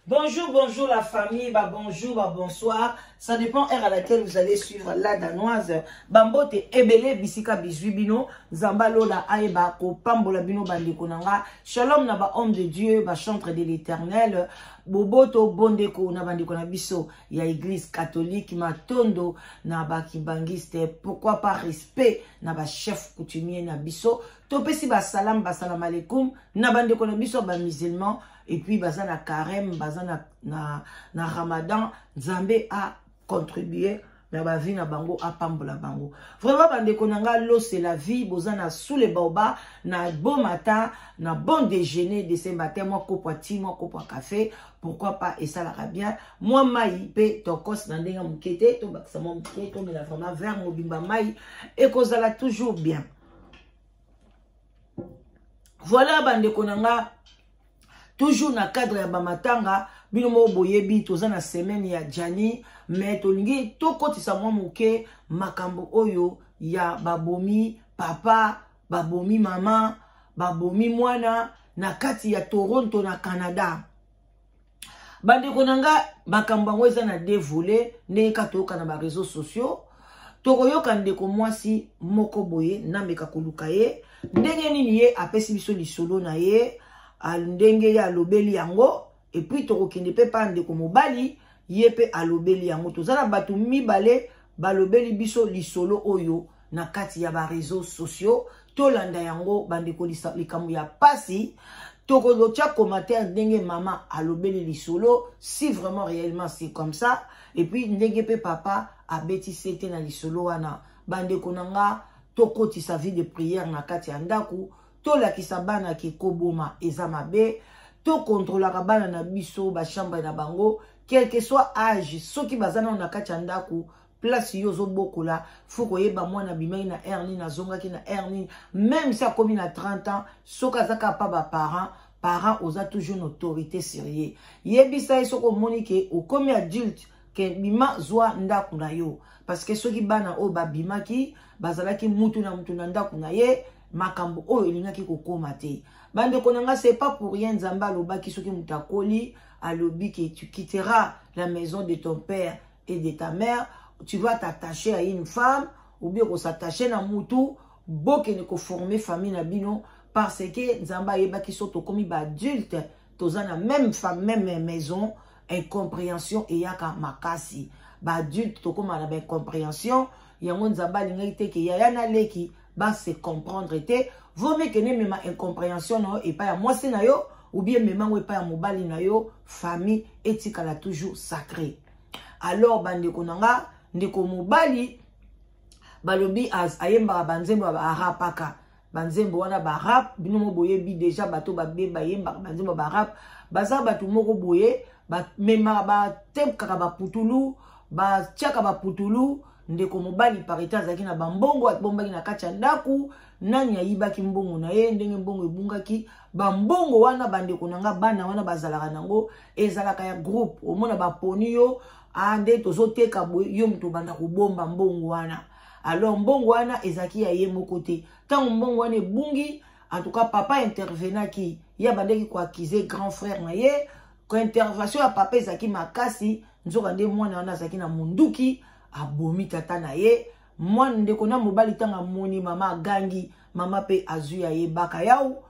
Bonjour, bonjour la famille, bah bonjour, bah bonsoir. Ça dépend heure à laquelle vous allez suivre la danoise. Bambote ebele bisika bisui bino, zamba lola aeba ko pambola bino bande konanga. Shalom na ba homme de Dieu, ba chantre de l'éternel. Boboto bondeko na bande kona biso ya église catholique matondo na ba kibangiste. Pourquoi pas respect na ba chef coutumier na biso. Topesi ba salam, ba salam alaikum na bande kona biso ba musulmans. et puis baza na carême baza na, na, na ramadan nzambe a contribuer na bavi na bango apambola bango vraiment bandeko na ngai lose la vie boza na sule baoba na bon matin na bon déjeuner de ce matin mwa kopo ya ti mwa kopo ya café pourquoi pas esalaka bien mwa mai mpe tokos na ndenge moke te tobakisa mwa moke tomela vraiment vert mobimba mai ekozala toujours bien voilà bandeko na ngai toujours na cadre ya bamatanga bino moko boyebi toza na semaine ya jani mais tolingi tokotisa mwa moke makambo oyo ya babomi papa babomi mama babomi mwana na kati ya toronto na canada bandeko na nga makambo yango eza na de volet ndenge kaka toyoka na bareseau sociaux tokoyoka ndeko mwasi moko boye nameka koluka ye ndenge nini ye apesi biso lisolo na ye ndenge ye alobeli yango epuis tokokende mpe pa ndeko mobali ye mpe alobeli yango toza na bato mibale balobeli biso lisolo oyo na kati ya ba réseaux sociaux tolanda yango bandeko likambo ya pasi tokotia commentaire ndenge mama alobeli lisolo si vraiment réellement c'est comme ça et puis ndenge mpe papa abeti sete na lisolo wana bandeko na nga tokotisa vie de prière na kati ya ndako tolakisa bana ke koboma eza mabe tokontrolaka bana na biso bachambre na bango quelque soit age soki baza nano na kati ya ndako place yo ozobokola fo koyeba mwana abimaki na aire nini azongaki na aire nini meme si akomi na 30 ans soki aza kaka mpa baparent parent oza toujours na autorité sur ye yebisa ye soki omoni ke okomi adulte ke bima zwa ndako na yo parce que soki bana oyo babimaki bazalaki mutu na mutu na ndako na ye makambo oyo elingaki kokoma te bandeko na ngai c'est pas pour rien nzambe alobaki soki moto akoli alobi ke tu quitteras la maison de ton père et de ta mère tu vas t'attacher à une femme ou bien s'attacher na mutu bokende former famille na bino parce que nzambe ayebaki so tokomi baadulte toza na même femme même maison incompréhension eyaka makasi baadulte tokóma na baincompréhension yango nzambe alingaki te ke yaya na leki base comprendre te vomi kende mema incompréhension na yo epai ya mwasi na yo ou bien mema yango epai ya mobali na yo famille etikala toujours sacré alors bandeko na nga ndeko mobali balobi ayembaka banzembo ya baarapaka banzembo wana barap bino mo boyebi deja bato babe bayembaka banzembo ya barap baza bato moko boye bamemaka batepkaka baputulu batiaka baputulu ndeko mobali parite azalaki na bambongo abombaki na kati ya ndako nani ayibaki mbongo na ye ndenge mbongo ebungaki bambongo wana bandeko na nga bana wana bazalaka nango ezalaka ya groupe omona baponi yo ah, nde tozoteka boye yo moto obanda kobomba mbongo wana alors mbongo wana ezalaki ya ye moko te ntango mbongo wana ebungi en tout cas papa intervenaki ye abandaki koakize grand frère na ye kointervention ya papa ezalaki makasi nzoka nde mwana wana azalaki na monduki abomi tata na ye mwana ndeko na mobali ntango amoni mama agangi mama mpe azwi ya ye baka yao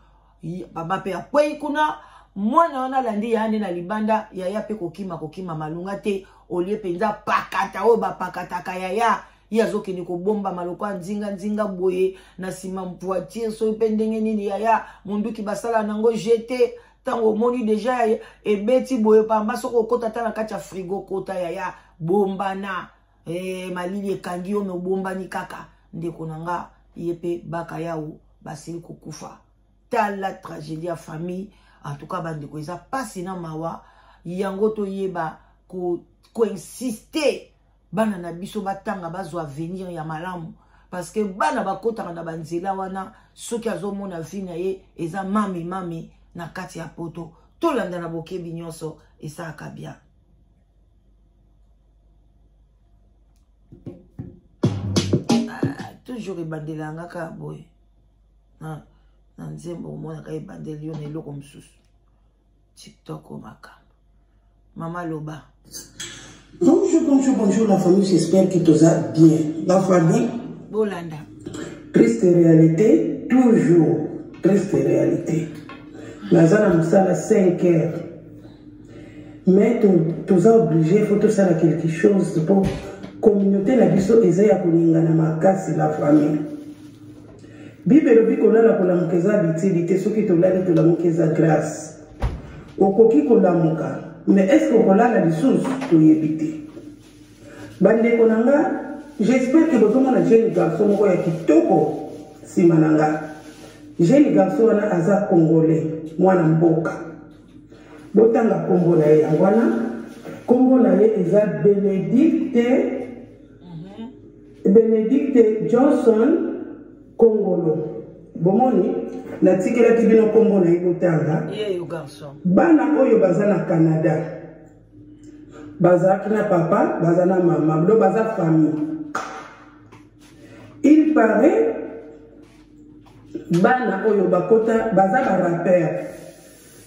mama mpe akwei kuna mwana wana alandi yaya nde na libanda yaya mpe kokima kokima malonga te olie mpenza pakata oyo bapakataka yaya ye azokende kobomba maloko ya nzinganzinga boye na nsima voiture soki mpe ndenge nini yaya monduki basala nango jete ntango omoni deja ebeti boye pamba soki okota ata na kati ya frigo kota yaya bombana e, malili ekangi yo me obombani kaka ndeko na nga ye mpe baka yawo basili kokufa tala tragédie ya famille en tout cas bandeko eza mpasi na mawa yango toyeba koinsiste bana na biso batanga bazwa avenir ya malamu parce que bana bakotaka na banzela wana soki azomona vi na ye eza mami mami na kati ya poto tolanda na bokebi nyonso esalaka bien ah, toujours ebandela yanga kaka boye na nzembo omonaka ebandeli yo na eloko mosusu tiktok o makambo mama loba bonjour bonjour bonjour la famille j'espère que toza bien la famille bolanda triste réalité toujours triste réalité naza na mosala 5 heures mais toza oblige fo tosala quelque chose mpo communauté na biso eza ya koningana makasi la famille bible elobi kolala kolamuka eza bitili te soki tolali tolamuka eza grâce okoki kolamuka mais est ce que okolala lisusu toyebi te bandeko na nga j'espère ke bozomona jeune garçon moko ya kitoko nsima na nga jeune garçon wana aza congolais mwana mboka botanga nkombo na ye yango wana nkombo na ye eza benedicte mhm. benedicte johnson kongolo bomoni natikelaki bino nkombo na ye botanga bana oyo baza na canada bazalaki na papa baza na mama bino baza famille il paraît bana oyo bakota baza barapere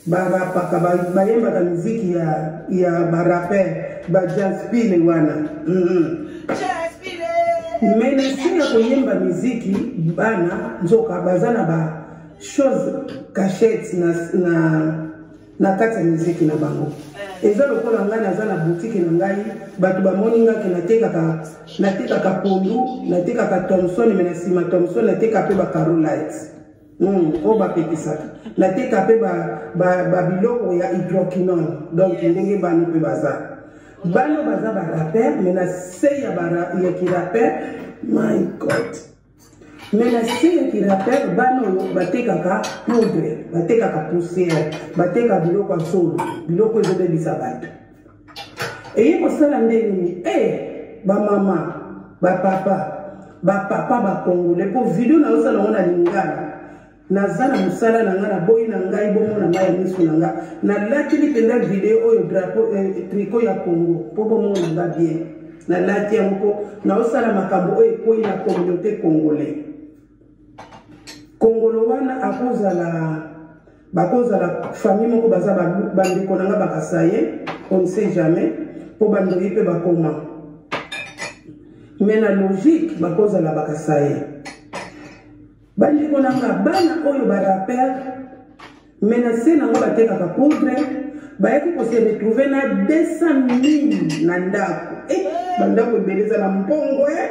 barapaka bayembaka miziki ya, ya barapere bajaspile wana mm -hmm. mais na se ya koyemba miziki bana nzoka baza na ba chose cachette na, na na kati ya miziki na bango eza lokola ngai naza na butike na ngai bato bamoni ngai ke natekaka natekaka pondu natekaka thomson me na nsima thomson nateka mpe bacarolite hmm, oyo bapekisaka nateka mpe babiloko ya hydroquinone donc ndenge bano mpe baza bano baza barapere me na se ya kirapere my god mais na se ya kirateur bana oyo batekaka poudre batekaka poussière bateka biloko ya solo biloko ezobebisa bato eye kosala nde nini e eh, bamama bapapa bapapa bakongole mpo video na yosala yango na lingala naza na mosala na ngai naboyi na ngai bomona ngai ya miso na ngai nalatili mpenza video oyo drapo eh, triko ya congo mpo bomona ngai bien nalati yango mpo naosala makambo oyo ekwei na communauté congolais kongolo wana akozala bakozala famille moko baza bandeko na ngai bakasaye on ne sait jamais mpo bandoyi mpe bakoma mais na logique bakozala bakasaye Bandeko na nga bana oyo ba rapper mais na se nango batekaka poudre bayaki kose retrouve na 200 000 na ndako eh, bandako ebele eza na mbongo e eh?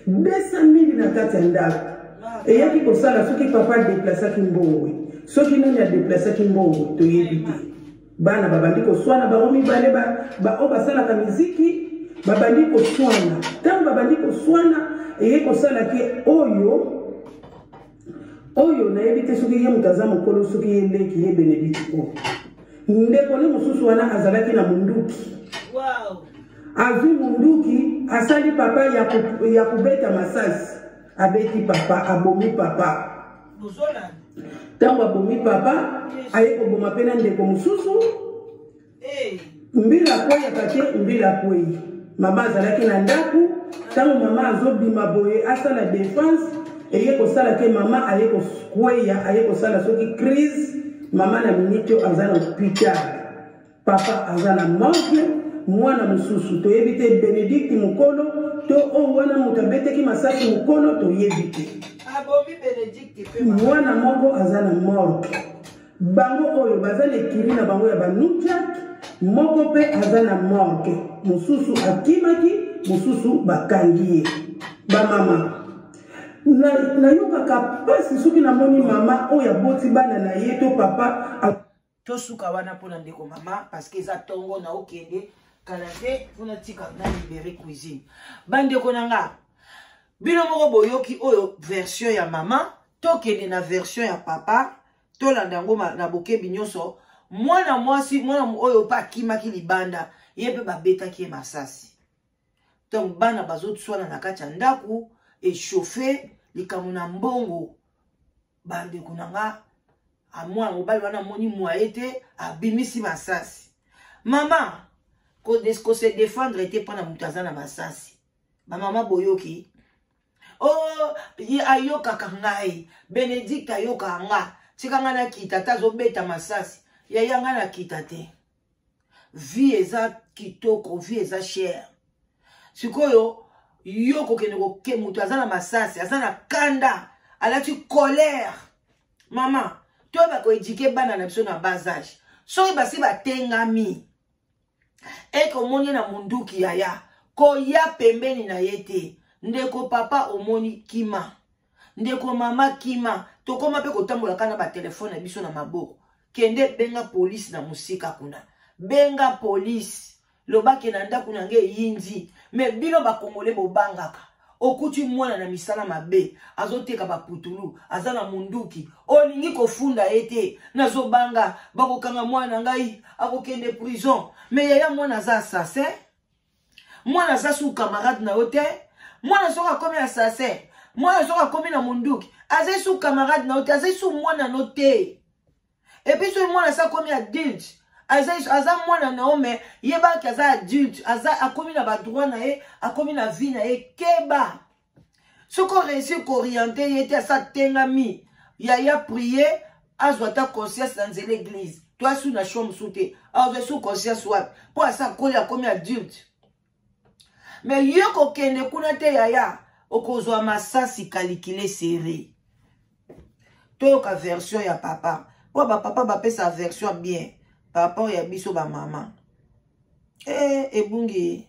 200 000 na kati ya ndako eyaki kosala soki papa adeplasaki mbongo soki nani adeplasaki mbongo toyebi te bana babandi koswana bango mibale baoyo basalaka miziki babandi koswana ntango babandi koswana eye kosala ke oyo oyo nayebi te soki ye moto aza mokolo soki ye leki ye benedikte oyo ndeko ne mosusu wana azalaki na monduki azwi monduki asali papa ya kobeta masasi abeti papa abomi papa ntango abomi papa aye koboma mpe na ndeko mosusu mbila akweyaka te mbila akwei mama azalaki na ndako ntango mama azobima boye asala defense eye kosala te mama aye kokweya aye kosala soki crise mama na miniti oyo aza na hopital Papa aza na manque mwana mosusu toyebi te Benedict mokolo to oyo oh, wana moto abeteki masasi mokolo toyebi te. Mwana moko aza na morgue. Bango oyo baza na ekili na bango ya banukiak moko mpe aza na morgue mosusu akimaki mosusu bakangi ye bamama nayokaka mpasi soki namoni mama oyo aboti bana na ye to papa tosuka wana mpona ndeko mama parceke eza ntongo na okende kala te mpona tika na libere cuisine bandeko na nga bino moko boyoki oyo version ya mama tokende na version ya papa tolanda yango na bokebi nyonso mwana mwasi mwana oyo mpe akimaki libanda ye mpe babetaki ye masasi donc bana bazoswana na kati ya ndako echauffe likambo na mbongo bandeko na nga amwana mobali wana amoni mwaye te abimisi masasi mama kose defendre te mpo na moto aza na masasi bamama boyoki o oh, ye ayokaka ngai benedikte ayokaka nga tika ngai nakita ata azobeta masasi yaya ngai nakita te vie eza kitoko vie eza chere sikoyo yo kokende koke moto aza na masasi aza na kanda alati colère mama toyeba koedike bana na biso na bas age soki basi batengami ekomoni na monduki yaya koya pembeni na ye te ndeko papa omoni kima ndeko mama kima tokoma mpe kotambola kaka na batelefone na biso na maboko kende benga polisi na mosika kuna benga polisi lobake na ndako na ngai eyindi me bino bakongole bobangaka okuti mwana na misala mabe azoteka baputulu aza na munduki olingi kofunda ye te nazobanga bakokanga mwana na ngai akokende prison me yaya mwana aza assassin mwana aza su camarade na yo te mwana soki akomi assassin mwana soki akomi na monduki azali su camarade na yo te azali su mwana no te epuis soki mwana asi akomi adulte aza mwana na yo me yebaki aza adulte akomi na badroit na ye akomi na vie na ye keba soki oreussi kooriente ye te asa tengami yaya prie azwa ata conscience na nzela eglise to asu na sho mosusu te azwa su conscience wapi mpo asa akoli akomi adulte me ye kokende kuna te yaya okozwa masasi kalikile sere toyoka version ya papa mpo bapapa bapesa version bien par rapport ya biso bamama e, eh, ebungi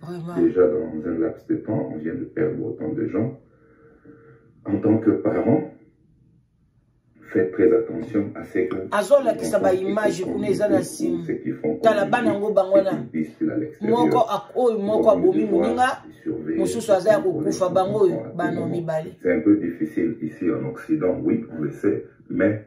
Vraiment. Déjà dans un laps de temps, on vient de perdre autant de gens. En tant que parent, faites très attention à ce que azolakisa baimage kuna eza na nsima tala bana yango bango wana moko oyo moko abomi moninga mosusu aza ya kokufa bango oyo bana mibale c'est un peu difficile ici en occident oui on le sait mais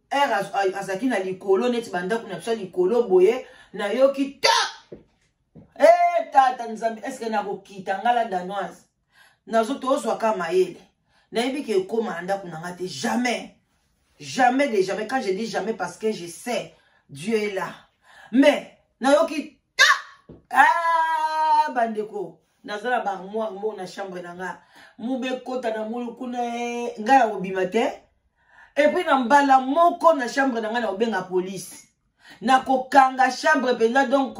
ere azalaki na likolo neti bandako na biso ya likolo boye nayoki ta e eh, tata nzambe eske nakokita ngai la danoise nazo tozwaka mayele nayebi ke ekóma na ndako na ngai te jamais jamais de jamais quand je dis jamais parce que je sais dieu est là mais nayoki ta ah, bandeko naza na barmoire moko na chambre na nga mube ekota na ngulu kuna eh, ngai na kobima te epuis na mbala moko na chambre na ngai na kobenga polise na kokanga chambre mpenza donk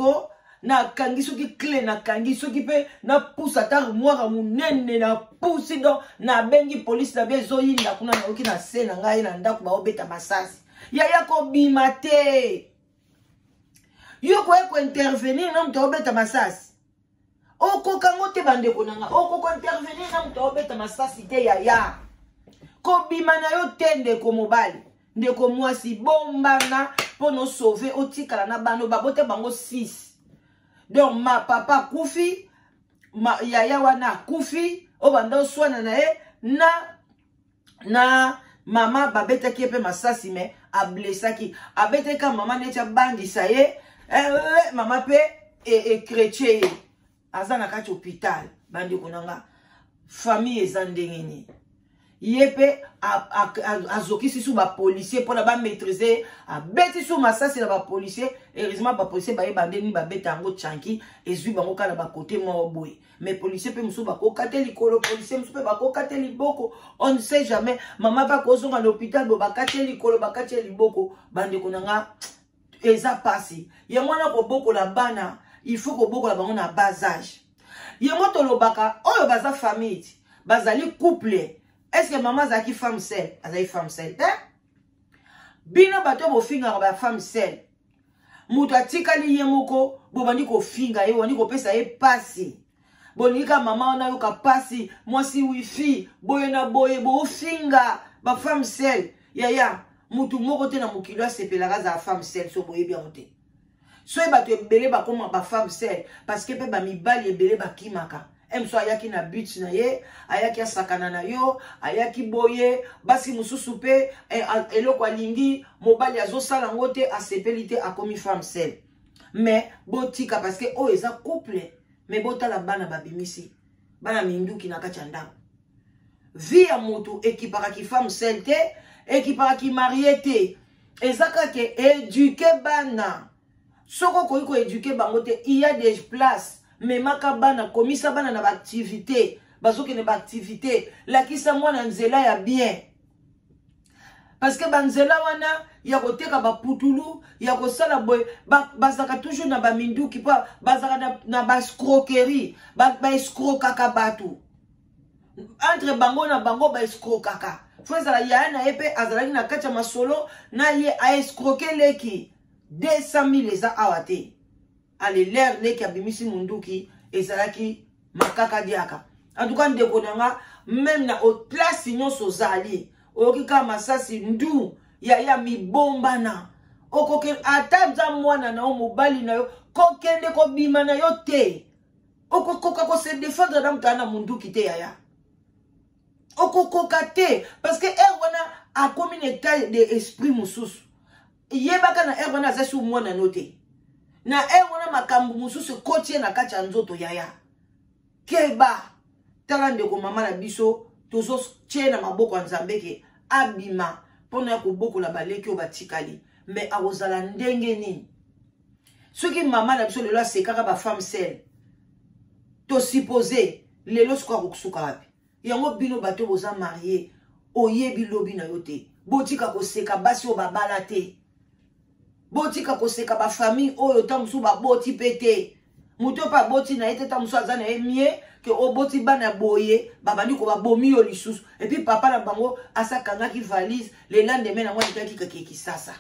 nakangi soki cle nakangi soki mpe napusa ata armoire monene napusi don nabengi polise na bia ezoyinda kuna nayoki na se na ngai na ndako baobeta masasi yaya kobima te yo koye kointervenir na moto aobeta masasi okoka ngo te bandeko na nga okoka intervenir na moto aobeta masasi te yaya kobima na yo te ndeko mobali ndeko mwasi bombana mpo na osauve otikala na bano babota bango 6 donc ma papa akufi yaya wana akufi obanda oswana na ye na na mama babetaki ye mpe masasi me ablesaki abetaki ka mama neti abangisa ye eh, eh, eh, mama mpe ekretye e ye aza na kati hopital bandeko na nga famille eza ndenge nini ye mpe azokisi su bapolisier mpona bamaîtrise ye abeti su masasi na bapolisier heureusement bapolisier bayeba nde nini babeta yango chanki ezwi bango kaka na bakote moko boye mais policier mpe mosusu bakoka te likolo policier mosusu mpe bakoka te liboko on ne sait jamais mama mpe akozonga na hôpital bo bakati ye likolo bakati ye liboko bandeko na nga eza mpasi yango wana kobokola bana il faut kobokola bango na bas age yango tolobaka oyo baza famille ti bazali couple est ce que mama azalaki femme sel azali femme sel te bino bato bofingaka bafemme sel moto atikali ye moko bobandi kofinga ye obandi kopesa ye mpasi bolingi kaka mama wana ayoka mpasi mwasi wifi boye na boye bofinga bafemme sel yaya motu moko te na mokili asepelaka azala femme sel so boyebi yango te soki bato ebele bakoma bafemme sel parce que mpe bamibali ebele bakimaka emso ayaki na but na ye ayaki asakana na yo ayaki boye basi mosusu mpe eh, eloko alingi mobali azosala yango te asepeli te akomi femme sel mais botika parce que oyo eza couple mais botala bana babimisi bana minduki na kati ya ndako vie ya motu ekipaka kifemme sel te ekipaka kimarie te eza kaka eduke bana soki okoki koeduke bango te il y a des places memaka bana komisa bana na baactivité bazokende baactivité lakisa mwana nzela ya bien parce que banzela wana ya koteka baputulu ya kosala boye bazalaka ba toujours na baminduki mpo bazalaka na, na bascroquerie baescrokaka ba bato entre bango na bango baescrokaka fo ezala yaya na ye mpe azalaki na kati ya masolo na ye aescroke leki 200000 eza awa te alelere leki abimisi munduki ezalaki makaka diaka antuka ndeko na nga meme na otlasi nyonso ozali oyoki kaka masasi ndu yaya mibombana okokende ata nza mwana na yo mobali na yo kokende kobima na yo te okokoka kose defendre na moto na munduki te yaya okokoka te parce que heure wana akomi na etat de esprit mosusu yebaka na heure wana aza sur mwana no te na heure wana makambo mosusu ekoti ye na kati ya nzoto yaya keba tala ndeko mama na biso tozotye na maboko ya nzambe ke abima mpo na ya kobokola baleki oyo batikali me akozala ndenge nini soki mama na biso lelo asekaka bafemme sele tosupose lelo sikoyo akosuka wapi yango bino bato boza marie oyebi lobi na yo te botika koseka basi oyo babala te botika koseka bafamille oyo ntango mosusu baboti mpe te moto mpe aboti na ye te ntango mosusu aza na ye mie ke oboti bana boye babandi kobabomi yo lisusu epuis papa na bango asi akangaki valise le lendemain nango ayitaki kake kisasa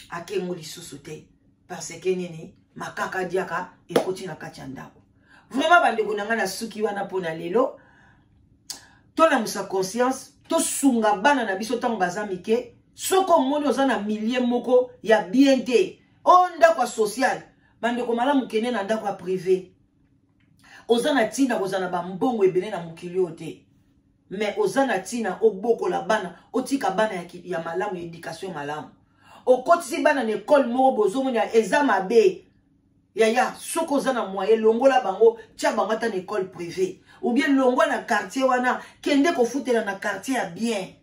ake yango lisusu te parce que nini makaka diaka ekoti na kati ya ndako vraiment bandeko na ngai nasuki wana mpo na lelo tolamusa conscience tosunga bana na biso ntango baza mike soki omoni oza na milie moko ya bien te o ndako ya sociale bandeko malamu kende na ndako ya prive oza na ntina kozala na bambongo ebele na mokili oyo te me oza na ntina obokola bana otika bana ya, ya malamu ya edikatio malamu okotisi bana na ekole moko bozomona eza mabe yaya soki oza na moye longola bango tya bango ata na ekole privé oubien longwa na quartier wana kende kofutela na quartier ya bien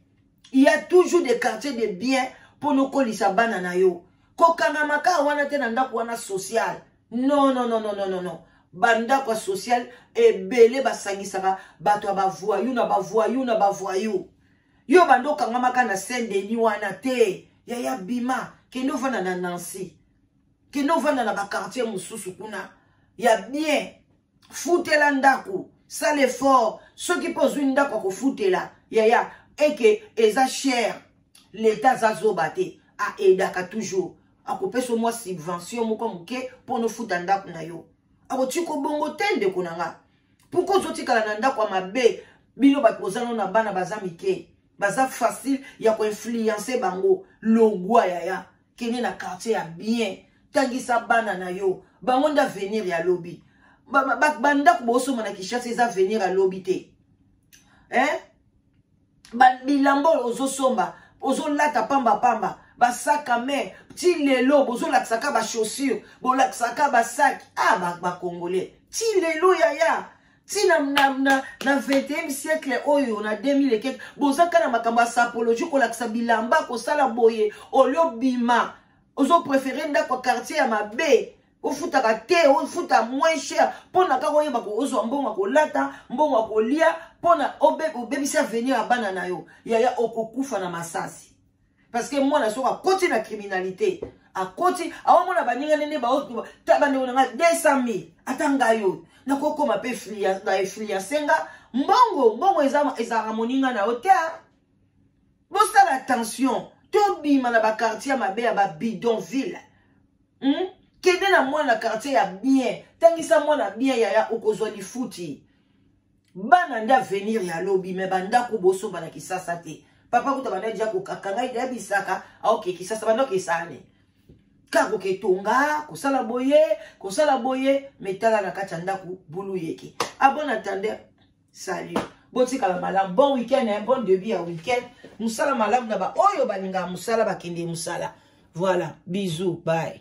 ya toujours de quartier de bien mpo nokolisa bana na yo kokangamaka wana te na ndako wana sociale non non non non non non non bandako ya social ebele basangisaka bato ya bavoyou na bavoyou na bavoyou yo banda okangamaka na saint denis wana te yaya bima kende ovanda na nancy kende ovanda na bakartier mosusu kuna ya bien futela ndako sala effort soki mpe ozwi ndako ya kofutela yaya eke eza chere leta aza zoba te aedaka toujours akopesa yo mwa subvention moko moke mpo nofuta ndako na yo akotika obongo te ndeko na nga mpoka ozotikala na ndako ya mabe bino bato boza no na bana baza mike baza facile ya koinfluence bango logwa yaya kende na quartier ya bien tangisa bana na yo bango nde avenir ya lobi bandako ba, ba, bosomba na kinshasa eza avenir ya lobi te eh? bilamba oyo ozosomba ozolata pamba pamba basaka me ti lelo bozolakisaka bachaussure bolakisaka basaki a ah, bacongolais ba ti lelo yaya ti na, na, na, na 21e siècle oyo na 2000 bozaka na makambo ya sapologie kolakisa bilamba kosala boye olio bima ozoprefere ndako ya quartier ya mabe ofutaka te ofuta moins cher mpo na kaka oyeba ozwa mbongo ya kolata mbongo ya kolia mpo na obebisi avenir ya bana na yo yaya okokufa na masasi parce que mwana soki akoti na criminalité akoti aomona baninga nene bandeko na ngai 200 mille ata ngai oyo nakokoma mpe na efliase nga mbongo mbongo ezalaka moninga na yo te bosala attention tobima na bakartier mabe ya babidonville hmm? kende na mwana quartier ya bien tangisa mwana bien yaya okozwa lifuti bana nde avenir ya lobi me bandako bosomba na kisasa te papa kuta banda dia kokaka ngai da bisaka aoke kisasa banda okesane kaka koketonga kosala boye kosala boye metala na kati ya ndako bulu yeke abona tande salut botikala malamu bon week-end hein? bon début ya week-end mosala malamu na baoyo balingaka mosala bakende mosala voilà bisous bye